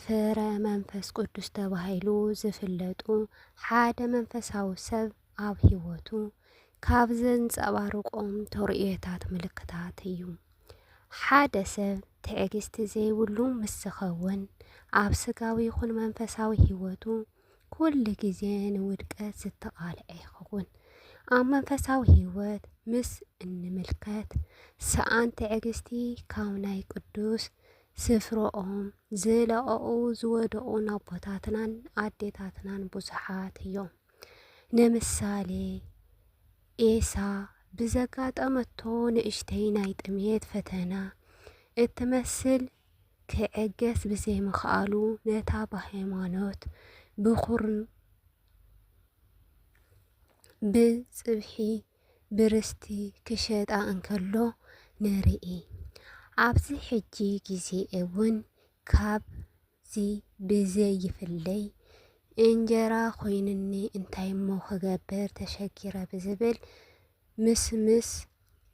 ፍረ መንፈስ ቅዱስ ተባሂሉ ዝፍለጡ ሓደ መንፈሳዊ ሰብ ኣብ ህይወቱ ካብ ዘንጸባርቆም ተርእዮታት ምልክታት እዩ። ሓደ ሰብ ትዕግስቲ ዘይብሉ ምስ ዝኸውን ኣብ ስጋዊ ይኹን መንፈሳዊ ህይወቱ ኩሉ ግዜ ንውድቀት ዝተቓልዐ ይኸውን። ኣብ መንፈሳዊ ህይወት ምስ እንምልከት ሰኣን ትዕግስቲ ካብ ናይ ቅዱስ ስፍርኦም ዝለቐቑ ዝወደቑ ኣቦታትናን ኣዴታትናን ብዙሓት እዮም። ንምሳሌ ኤሳ ብዘጋጠመቶ ንእሽተይ ናይ ጥሜት ፈተና እትመስል ክዕገስ ብዘይምኽኣሉ ነታ ብሃይማኖት ብኹርን ብፅብሒ ብርስቲ ክሸጣ እንከሎ ንርኢ። ኣብዚ ሕጂ ግዜ እውን ካብዚ ብዘይፍለይ እንጀራ ኮይኑኒ እንታይ እሞ ክገብር ተሸጊረ ብዝብል ምስምስ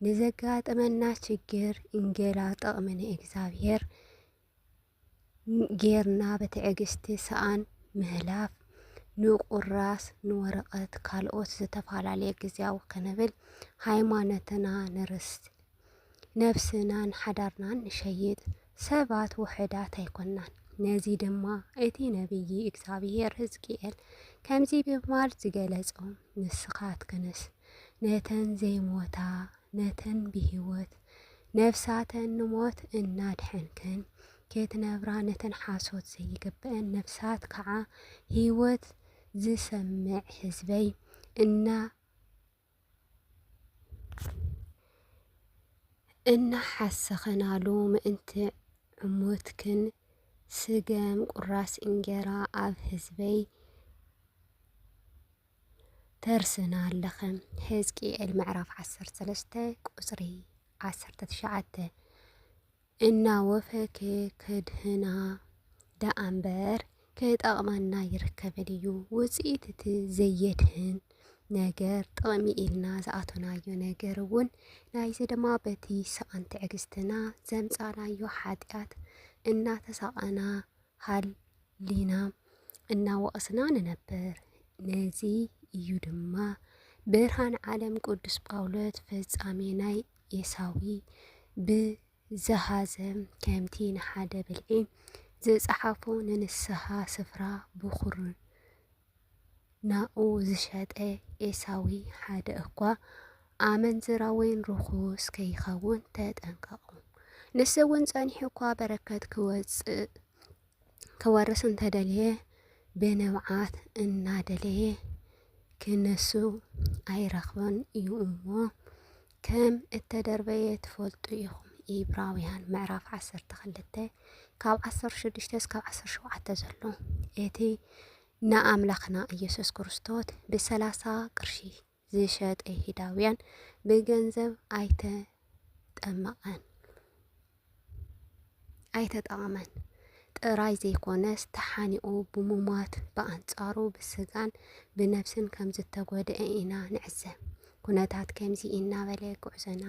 ንዘጋጥመና ችግር እንጌላ ጥቕሚ ንእግዚኣብሔር ጌርና ብትዕግስቲ ሰኣን ምህላፍ ንቁራስ ንወረቐት ካልኦት ዝተፈላለየ ግዜያዊ ክንብል ሃይማኖትና ንርስት ነብስናን ሓዳርናን ንሸይጥ ሰባት ውሑዳት ኣይኮናን። ነዚ ድማ እቲ ነብዪ እግዚኣብሔር ሕዝቅኤል ከምዚ ብምባል ዝገለጾ ንስኻትክንስ ነተን ዘይሞታ ነተን ብህይወት ነፍሳተን ንሞት እናድሐንክን ኬትነብራ ነተን ሓሶት ዘይግበእን ነፍሳት ከዓ ህይወት ዝሰምዕ ህዝበይ እና እናሓሰኸናሉ ምእንቲ ዕሙትክን ስገም ቁራስ እንጌራ ኣብ ህዝበይ ተርስና ኣለኸ ሕዝቅኤል ምዕራፍ ዓሰርተ ሰለስተ ቁፅሪ ዓሰርተ ትሽዓተ እናወፈኬ ከድህና ደኣምበር ክጠቕመና ይርከብን እዩ ውፅኢት እቲ ዘየድህን ነገር ጥቕሚ ኢልና ዝኣቶናዮ ነገር እውን ናይዚ ድማ በቲ ሰኣን ትዕግስትና ዘምፃናዮ ሓጢኣት እናተሳቐና ሃሊና እናወቐስና ንነብር። ነዚ እዩ ድማ ብርሃን ዓለም ቅዱስ ጳውሎስ ፈጻሜ ናይ ኤሳዊ ብዝሃዘም ከምቲ ንሓደ ብልዒ ዝጸሓፎ ንንስሓ ስፍራ ብኹርን ናኡ ዝሸጠ ኤሳዊ ሓደ እኳ ኣመንዝራ ወይን ርኹስ ከይኸውን ተጠንቀቑ። ንሱ እውን ጸኒሑ እኳ በረከት ክወጽእ ክወርስ እንተደለየ ብንብዓት እናደለየ ክነሱ ኣይረኽበን እዩ እሞ ከም እተደርበየ ትፈልጡ ኢኹም። ኢብራውያን ምዕራፍ ዓሰርተ ክልተ ካብ ዓሰርተ ሽዱሽተ እስካብ ዓሰርተ ሸውዓተ ዘሎ እቲ ንኣምላኽና ኢየሱስ ክርስቶስ ብሰላሳ ቅርሺ ዝሸጠ ይሁዳውያን ብገንዘብ ኣይተጠመቐን። ኣይተጠቐመን ጥራይ ዘይኮነስ ተሓኒቑ ብምሟት ብኣንጻሩ ብስጋን ብነብስን ከም ዝተጎድአ ኢና ንዕዘብ። ኩነታት ከምዚ እናበለ ጉዕዞና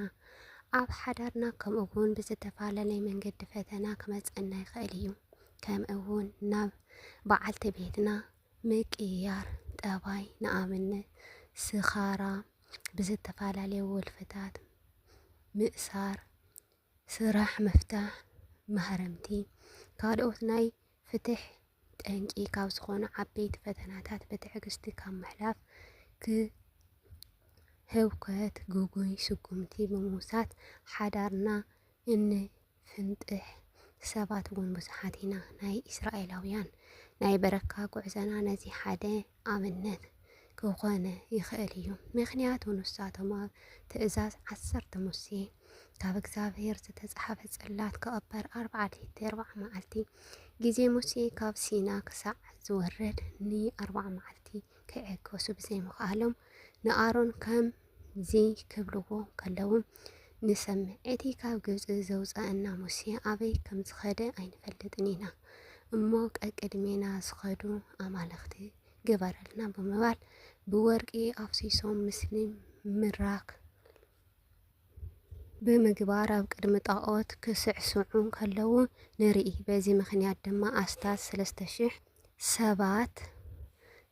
ኣብ ሓዳርና ከምኡ እውን ብዝተፈላለየ መንገዲ ፈተና ክመፀና ይኽእል እዩ። ከምኡ እውን ናብ በዓልቲ ቤትና ምቅያር ጠባይ ንኣብነት ስኻራ፣ ብዝተፈላለየ ወልፍታት ምእሳር ስራሕ ምፍታሕ ማህረምቲ ካልኦት ናይ ፍትሕ ጠንቂ ካብ ዝኾኑ ዓበይቲ ፈተናታት ብትዕግስቲ ካብ ምሕላፍ ክ ህውከት ግጉይ ስጉምቲ ብምውሳድ ሓዳርና እንፍንጥሕ ሰባት እውን ብዙሓት ኢና። ናይ እስራኤላውያን ናይ በረካ ጉዕዘና ነዚ ሓደ ኣብነት ክኾነ ይኽእል እዩ። ምክንያቱ ንሳቶም ኣብ ትእዛዝ ዓሰርተ ሙሴ ካብ እግዚኣብሔር ዝተጽሓፈ ጽላት ክቕበር ኣርብዓ ለይቲ ኣርብዓ መዓልቲ ግዜ ሙሴ ካብ ሲና ክሳዕ ዝወርድ ንኣርብዓ መዓልቲ ክዕገሱ ብዘይምኽኣሎም ንኣሮን ከም እዚ ክብልዎ ከለዉ ንሰምዕ። እቲ ካብ ግብፂ ዘውፀአና ሙሴ ኣበይ ከም ዝኸደ ኣይንፈልጥን ኢና እሞ ቀቅድሜና ዝኸዱ ኣማልኽቲ ግበረልና ብምባል ብወርቂ ኣፍሲሶም ምስሊ ምራክ ብምግባር ኣብ ቅድሚ ጣዖት ክስዕስዑ ከለዉ ንርኢ። በዚ ምክንያት ድማ ኣስታት ሰለስተ ሽሕ ሰባት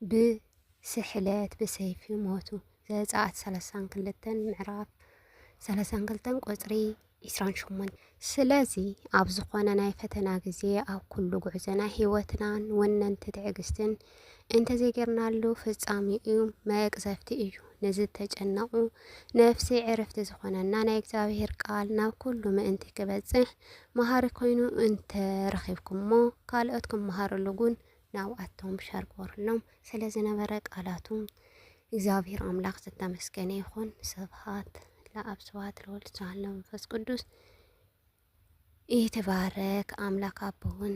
ብ ስሕለት ብሰይፊ ሞቱ። ዘጸኣት ሰላሳን ክልተን ምዕራፍ ሰላሳን ክልተን ቁጽሪ ዒስራን ሸሞንተን ስለዚ ኣብ ዝኾነ ናይ ፈተና ግዜ ኣብ ኩሉ ጉዕዞና ህይወትናን ወነንቲ ትዕግስትን እንተዘይጌርናሉ ፍጻሜኡ መቅዘፍቲ እዩ። ንዝተጨነቑ ነፍሲ ዕረፍቲ ዝኾነና ናይ እግዚኣብሔር ቃል ናብ ኩሉ ምእንቲ ክበጽሕ መሃሪ ኮይኑ እንተረኺብኩሞ ካልኦት ክመሃርሉ እውን ናብ ኣቶም ሸርጎርኖም ስለ ዝነበረ ቃላቱ እግዚኣብሔር ኣምላኽ ዝተመስገነ ይኹን። ስብሐት ለአብ ስብሐት ለወልድ ስብሐት ለመንፈስ ቅዱስ ይትባረክ አምላክ አቦን